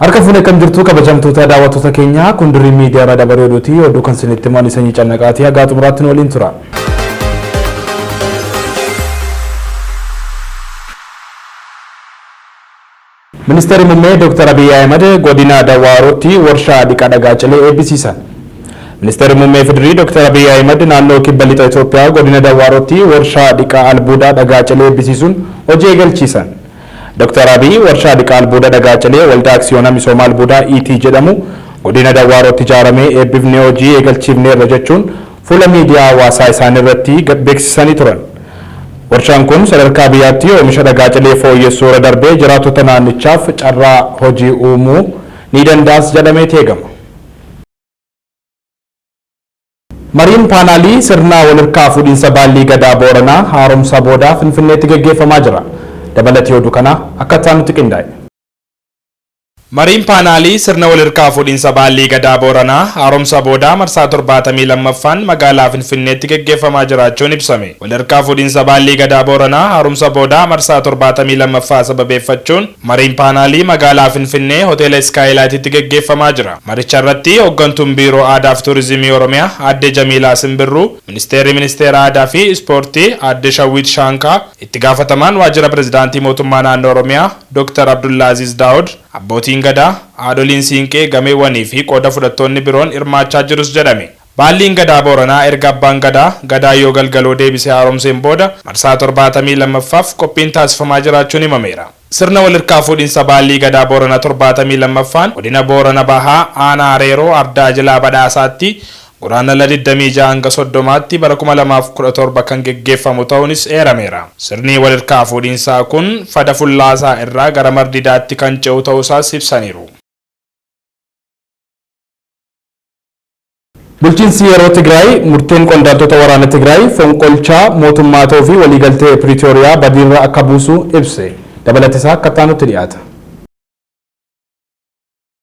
Harka fuunee kan jirtu kabajamtoota daawwattoota keenyaa kun dirrii miidiyaa irraa dabaree oduuti oduu kan isinitti himan sanyii cannaqaatii hagaa xumuraatti nu waliin tura. Ministeerri Mummee Dooktar Abiy Ahimad Godina Dawwaarootti Warshaa Dhiqa Dhagaa Cilee Eebbisiisan. Ministeerri Mummee Fidrii Dooktar Abiy Ahimad Naannoo Kibba Lixa Itoophiyaa Godina Dawwaarootti Warshaa Dhiqa Albuuda Dhagaa Cilee Eebbisiisuun hojii eegalchiisan. Dooktar Abiy Warshaa Dhiqa Albuuda Dhagaa Cilee Waldaa Aksiyoona Misooma Albuudaa Iitii jedhamu Godina Dawwaarootti ijaaramee eebbifnee hojii eegalchiifneerra jechuun fuula miidiyaa hawaasaa isaanii irratti gad beeksisanii turan. Warshaan kun sadarkaa biyyaatti oomisha dhagaa cilee fooyyessuu irra darbee jiraattota naannichaaf carraa hojii uumuu ni danda'as jedhameeti eegama. Mariin paanaalii sirna walhirkaa fuudhinsa Baallii Gadaa Booranaa haaromsa boodaa Finfinneetti geggeeffamaa jira. Dabalati oduu kanaa akka itti aanutti qindaa'e. Mariin Paanaalii sirna wal hirkaa fuudhinsa Baallii Gadaa Booranaa haaromsa boodaa marsaa 72ffaan magaalaa Finfinneetti geggeeffamaa jiraachuun ibsame. Wal hirkaa fuudhinsa Baallii Gadaa Booranaa haaromsa boodaa marsaa 72ffaa sababeeffachuun mariin paanaalii magaalaa Finfinnee Hoteela Iskaayilaayititti geggeeffamaa jira. Maricha irratti Hoggantuun Biiroo Aadaa fi Tuurizimii Oromiyaa Aadde Jamiilaa Simbirruu, Ministeerri Ministeera Aadaa fi Ispoortii Aadde Shawwiit Shaankaa, Itti Gaafatamaan Waajjira Pirezidaantii Mootummaa Naannoo Oromiyaa, Dr. Abdullaaziiz Daawud, Abbootiin Gadaa, Haadholiin Siinqee, Gameewwanii fi qooda fudhattoonni biroon hirmaachaa jirus jedhame. Baalliin Gadaa Booranaa erga Abbaan Gadaa, Gadaa Yoo Galgaloo deebisee haaromseen booda marsaa 72ffaaf qophiin taasifamaa jiraachuun himameera. Sirna walhirkaa fuudhinsa Baallii Gadaa Booranaa 72ffaan Godina Boorana Bahaa Aanaa Areeroo Ardaa Jilaa Badhaasaatti Guraandhala 26-30tti bara 2017 kan geggeeffamu ta'uunis eerameera. Sirni walhirkaa fuudhiinsaa kun Fada Fullaasaa irraa gara Mar Didaatti kan ce'u ta'uusaas ibsaniiru. Bulchiinsi yeroo Tigraay murteen qondaaltota waraana Tigraay fonqolchaa mootummaa ta'uu fi waliigaltee Piriitooriyaa badiirra akka buusu ibse. Dabalatisaa akka itti aanutti dhiyaata.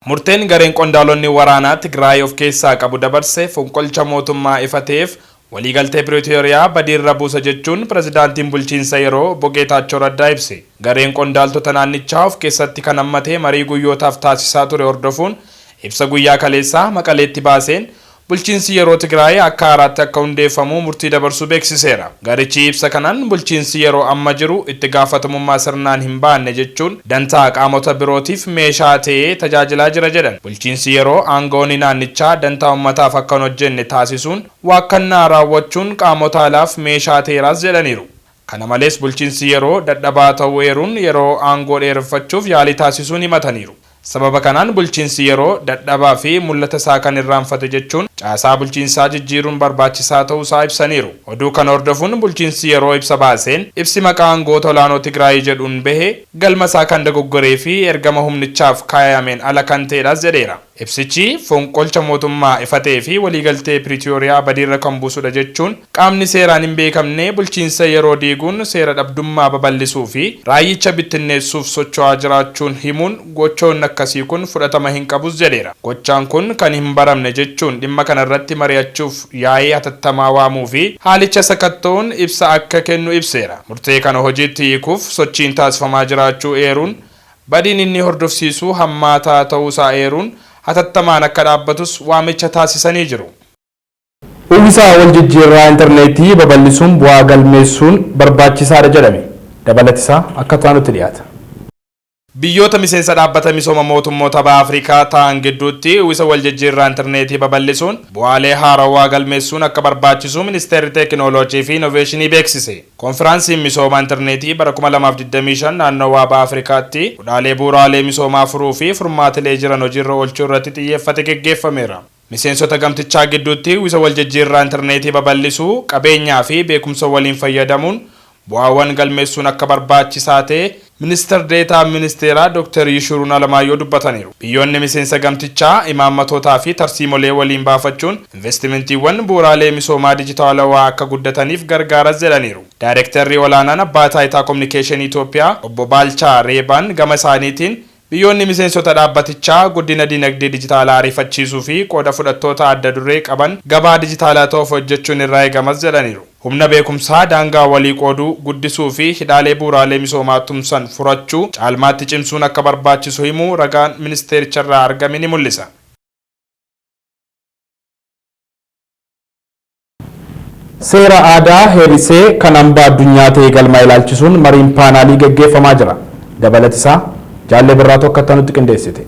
Murteen gareen qondaalonni waraanaa Tigraay of keessaa qabu dabarse fonqolcha mootummaa ifa ta'eef waliigaltee Piritooriyaa badiirra buusa jechuun pirezidaantiin bulchiinsa yeroo Obbo Geetaachoo Raddaa ibse. Gareen qondaaltota naannichaa of keessatti kan hammate marii guyyootaaf taasisaa ture hordofuun ibsa guyyaa kaleessaa Maqaleetti baaseen Bulchiinsi yeroo Tigraay akka haaraatti akka hundeeffamu murtii dabarsuu beeksiseera. Garichi ibsa kanaan bulchiinsi yeroo amma jiru itti gaafatamummaa sirnaan hin baanne jechuun dantaa qaamota birootiif meeshaa ta'ee tajaajilaa jira jedhan. Bulchiinsi yeroo aanga'oonni naannichaa dantaa ummataaf akka hin hojjenne taasisuun waakkannaa raawwachuun qaamota alaaf meeshaa ta'eeraas jedhaniiru. Kana malees bulchiinsi yeroo dadhabaa ta'uu eeruun yeroo aangoo dheereffachuuf yaalii taasisuun himataniiru. Sababa kanaan bulchiinsi yeroo dadhabaa fi mul'ata isaa kan irraanfate jechuun caasaa bulchiinsaa jijjiiruun barbaachisaa ta'uu isaa ibsaniiru. Oduu kana hordofuun bulchiinsi yeroo ibsa baaseen ibsi maqaa aangoota olaanoo Tigraay jedhuun bahe galma isaa kan dogoggoree fi ergama humnichaaf kaayameen ala kan ta'edhas jedheera. Ibsichi fonqolcha mootummaa ifa ta'ee fi waliigaltee Piritooriyaa badiirra kan buusudha jechuun, qaamni seeraan hin beekamne bulchiinsa yeroo diiguun seera dhabdummaa babal'isuu fi raayyicha bittinneessuuf socho'aa jiraachuun himuun, gochoonni akkasii kun fudhatama hin qabus jedheera. Gochaan kun kan hin baramne jechuun, dhimma kana irratti mari'achuuf yaa'ii hatattamaa waamuu fi haalicha sakatta'uun ibsa akka kennu ibseera. Murtee kana hojiitti hiikuuf sochiin taasifamaa jiraachuu eeruun, Badiin inni hordofsiisu hammaataa ta'uu isaa eeruun, hatattamaan akka dhaabbatus waamicha taasisanii jiru. Uwvisa waljijjiirraa interneetii babal'isuun bu'aa galmeessuun barbaachisaadha jedhame. Dabalati isaa akka taanutti dhiyaata. Biyyoota miseensa Dhaabbata Misooma Mootummoota Baha Afrikaa ta'an gidduutti uwvisa waljijjiirraa interneetii babal'isuun bu'aalee haarawaa galmeessuun akka barbaachisu Ministeerri Teekinooloojiifi Inoveeshinii beeksise. Konfiraansiin Misooma Interneetii bara 2025 Naannowaa Baha Afrikaatti hudhaalee bu'uraalee misoomaa furuu fi furmaatilee jiran hojiirra oolchuu irratti xiyyeeffate geggeeffameera. Miseensota gamtichaa gidduutti uwwisa waljijjiirraa interneetii babal'isuu, qabeenyaa fi beekumsa waliin fayyadamuun bu'aawwan galmeessuun akka barbaachisaa ta'e Ministar Deetaan Ministeeraa Doktar Yishuruun Alamaayyoo dubbataniiru. Biyyoonni miseensa gamtichaa imaammatootaa fi tarsiimolee waliin baafachuun investimentiiwwan bu'uraalee misoomaa dijitaalawaa akka guddataniif gargaaras jedhaniiru. Daayrektarri Olaanaan Abbaa Taayitaa Kominikeeshinii Itoophiyaa Obbo Baalchaa Reebaan gama isaaniitiin, Biyyoonni miseensota dhaabbatichaa guddina dinagdee dijitaalaa ariifachiisuu fi qooda fudhattoota adda duree qaban gabaa dijitaalaa ta'uuf hojjechuun irraa eegamas jedhaniiru. Humna beekumsaa daangaa walii qooduu guddisuu fi hidhaalee bu'uuraalee misoomaa tumsan furachuu caalmaatti cimsuun akka barbaachisu himuu ragaan ministeericharraa argame ni mul'isa. Seera aadaa heerisee kan hambaa addunyaa ta'ee galmaa'e ilaalchisuun mariin paanaalii gaggeeffamaa jira. Dabalatisaa Jaallee Birraatu akka ittanutti qindeessite.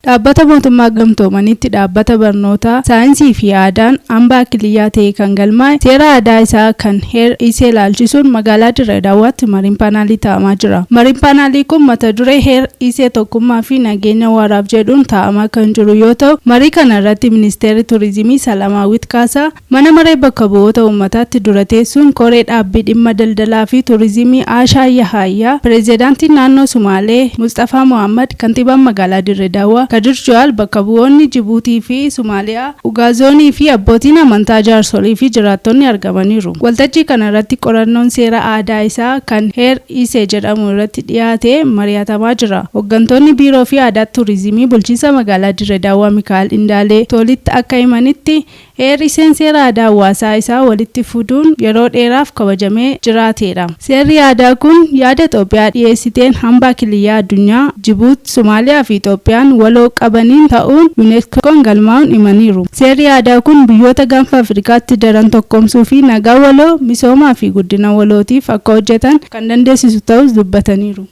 Dhaabbata Mootummaa Gamtoomaniitti dhaabbata barnootaa, saayinsii fi aadaan hambaa Kiliyyaa ta'ee kan galmaa'e seera aadaa isaa kan heer ise ilaalchisuun magaalaa Dirree Dawaatti mariin paanaalii taa'amaa jira. Mariin paanaalii kun mata duree heer. dhiisee tokkummaa fi nageenya waaraaf jedhuun taa'amaa kan jiru yoo ta'u, marii kana irratti Ministeerri Turizimii Salamaawwit Kaasaa Mana Maree Bakka Bu'oota Uummataatti dura teessuun Koree Dhaabbii Dhimma Daldalaa fi Turizimii Aashaa Yahaayyaa, Pireezidaantiin Naannoo Sumaalee Musxafaa Mohaammad, Kantiibaan Magaalaa Dirre Dawaa Kadir Juhaal, bakka bu'oonni Jibuutii fi Sumaaliyaa, Ugaazoonii fi abbootiin amantaa jaarsolii fi jiraattonni argamaniiru. Waltajjii kana irratti qorannoon seera aadaa isaa kan Her. Iisee jedhamu irratti dhiyaate mari'atamaa jira. Hoggantoonni Biiroo fi Aadaat Tuurizimii Bulchiinsa Magaalaa Dirre Daawwaa Mikaa'el Indaalee Toolitti akka himanitti, Eer Iiseen seera aadaa hawaasaa isaa walitti fuduun yeroo dheeraaf kabajamee jiraateedha. Seerri aadaa kun yaada Xoophiyaa dhiyeessiteen hambaa kiliyyaa addunyaa, Jibuut, Somaaliyaa fi Itoophiyaan waloo qabaniin ta'uun Unesco'n galmaa'uun himaniiru. Seerri aadaa kun biyyoota Gaanfa Afrikaatti daran tokkoomsuu fi nagaa waloo, misoomaa fi guddina walootiif akka hojjetan kan dandeessisu ta'uus dubbataniiru.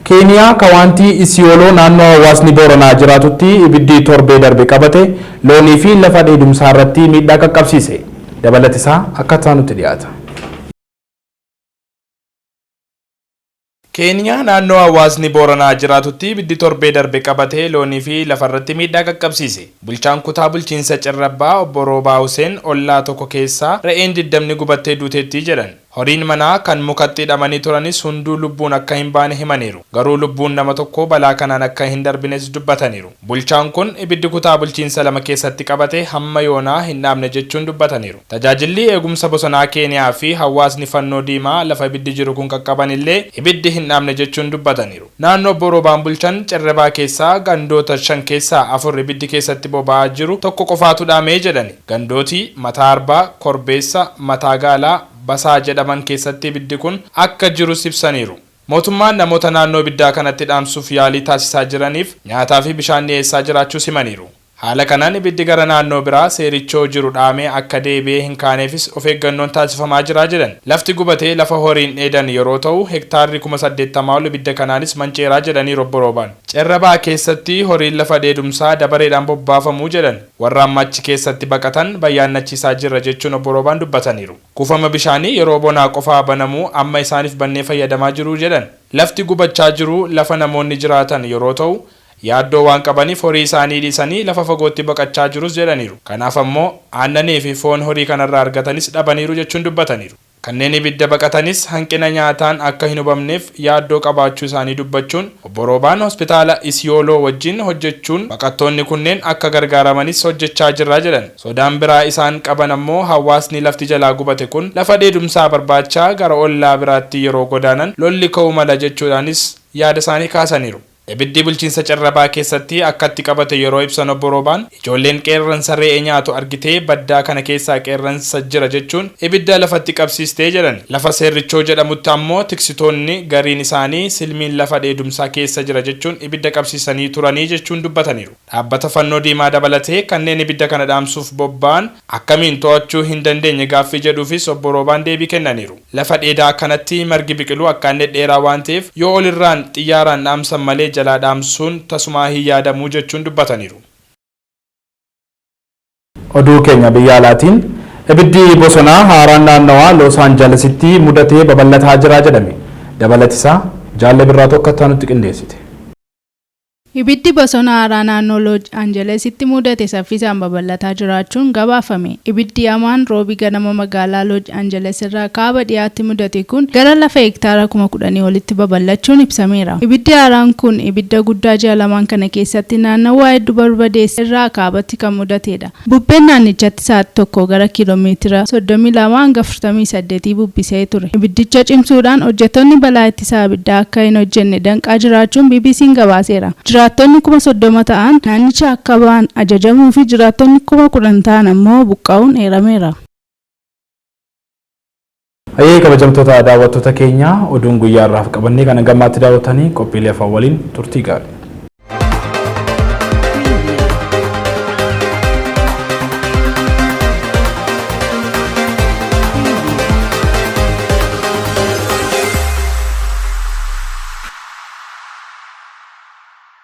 Keeniyaa Kawaantii Isiyooloo naannoo hawaasni Booranaa jiraatutti ibiddi torbee darbe qabate loonii fi lafa dheedumsaa irratti miidhaa qaqqabsiise. Dabalati isaa akka itti aanutti dhiyaata. Keeniyaa naannoo hawaasni Booranaa jiraatutti ibiddi torbee darbe qabate loonii fi lafarratti miidhaa qaqqabsiise. Bulchaan kutaa bulchiinsa Cirrabbaa obbo Roobaa Huseen ollaa tokko keessaa re'een diddamni gubattee duuteetti jedhan. Horiin manaa kan mukatti hidhamanii turanis hunduu lubbuun akka hin baane himaniiru. Garuu lubbuun nama tokkoo balaa kanaan akka hin darbines dubbataniiru. Bulchaan kun ibiddi kutaa bulchiinsa lama keessatti qabate hamma yoonaa hin dhaamne jechuun dubbataniiru. Tajaajilli Eegumsa Bosonaa Keeniyaa fi hawaasni Fannoo Diimaa lafa ibiddi jiru kun qaqqaban illee ibiddi hin dhaamne jechuun dubbataniiru. Naannoo Obbo Roobaan bulchan Cerrebaa keessaa gandoota shan keessaa afur ibiddi keessatti boba'aa jiru tokko qofaatu dhaame jedhani. Gandooti Mataa Arbaa, Korbeessa, Mataa Gaalaa, Basaa jedhaman keessatti ibiddi kun akka jirus ibsaniiru. Mootummaan namoota naannoo ibiddaa kanatti dhaamsuuf yaalii taasisaa jiraniif nyaataa fi bishaan dhiyeessaa jiraachuus himaniiru. Haala kanaan ibiddi gara naannoo biraa Seerichoo jiru dhaamee akka deebi'ee hin kaaneefis of eeggannoon taasifamaa jira jedhan. Lafti gubate lafa horiin dheedan yeroo ta'u, hektaarri kuma saddeettamaa ol ibidda kanaanis manceera jedhaniiru Obbo Roobaan. Cerra Baha keessatti horiin lafa dheedumsaa dabareedhaan bobbaafamu jedhan. Warra amma achi keessatti baqatan bayyaannachiisaa jirra jechuun Obbo Roobaan dubbataniiru. Kuufama bishaanii yeroo bonaa qofaa banamu amma isaaniif bannee fayyadamaa jiru jedhan. Lafti gubachaa jiru lafa namoonni jiraatan yeroo ta'u, yaaddoo waan qabaniif horii isaanii dhiisanii lafa fagootti baqachaa jirus jedhaniiru. Kanaaf ammoo aannanii fi foon horii kanarraa argatanis dhabaniiru jechuun dubbataniiru. Kanneen ibidda baqatanis hanqina nyaataan akka hin hubamneef yaaddoo qabaachuu isaanii dubbachuun, Obbo Roobaan Hospitaala Isiyooloo wajjin hojjechuun baqattoonni kunneen akka gargaaramanis hojjechaa jirra jedhan. Sodaan biraa isaan qaban ammoo hawaasni lafti jalaa gubate kun lafa dheedumsaa barbaachaa gara ollaa biraatti yeroo godaanan lolli ka'uu mala jechuudhaanis yaada isaanii kaasaniiru. Ibiddi bulchiinsa Carrabaa keessatti akkatti qabate yeroo ibsan Obbo Roobaan, ijoolleen qeerransa re'ee nyaatu argitee baddaa kana keessaa qeerransa jira jechuun ibidda lafatti qabsiiste jedhan. Lafa Seerrichoo jedhamutti ammoo tiksitoonni gariin isaanii silmiin lafa dheedumsaa keessa jira jechuun ibidda qabsiisanii turani jechuun dubbataniiru. Dhaabbata Fannoo Diimaa dabalatee kanneen ibidda kana dhaamsuuf bobba'an akkamiin to'achuu hin dandeenye gaaffii jedhuufis Obbo Roobaan deebii kennaniiru. Lafa dheedaa akkanatti margi biqilu akkaan dhedheeraa waan ta'eef yoo olirraan xiyyaaraan dhaamsan malee jalaa dhaamsuun tasumaa hin yaadamu jechuun dubbataniiru. Oduu keenya biyya alaatiin, Ibiddi bosonaa haaraan naannawaa Loos Aanjalasitti mudate babal'ataa jira jedhame. Dabalatisaa Jaalle Birraatu akka itti aanutti qindeessite. Ibiddi bosona haaraa naannoo Looj Anjalesitti muudate saffisaan babal'ataa jiraachuun gabaafame. Ibiddi hamaan Roobii ganama magaalaa Looj Anjeles irraa kaaba dhihaatti mudate kun gara lafa hektaara kuma kudhanii olitti babal'achuun ibsameera. Ibiddi haaraan kun ibidda guddaa ji'a lamaan kana keessatti naannawaa heddu barbadeesse irraa kaabatti kan mudateedha. Bubbeen naannichatti sa'aati tokkoo gara kiiloo meetira 32-48 bubbisee ture ibiddicha cimsuudhaan hojjettoonni balaa ittisa abiddaa akka hin hojjenne danqaa jiraachuun BBC'n gabaaseera. Jiraattonni kuma 30 ta'an naannichaa akka ba'an ajajamuu fi jiraattonni kuma 10 ta'an ammoo buqqa'uun eerameera. Hayyee kabajamtoota daawwattoota keenya oduun guyyaa har'aaf qabannee kan hanga ammaatti daawwattanii qophiilee afaan waliin turtii gaarii.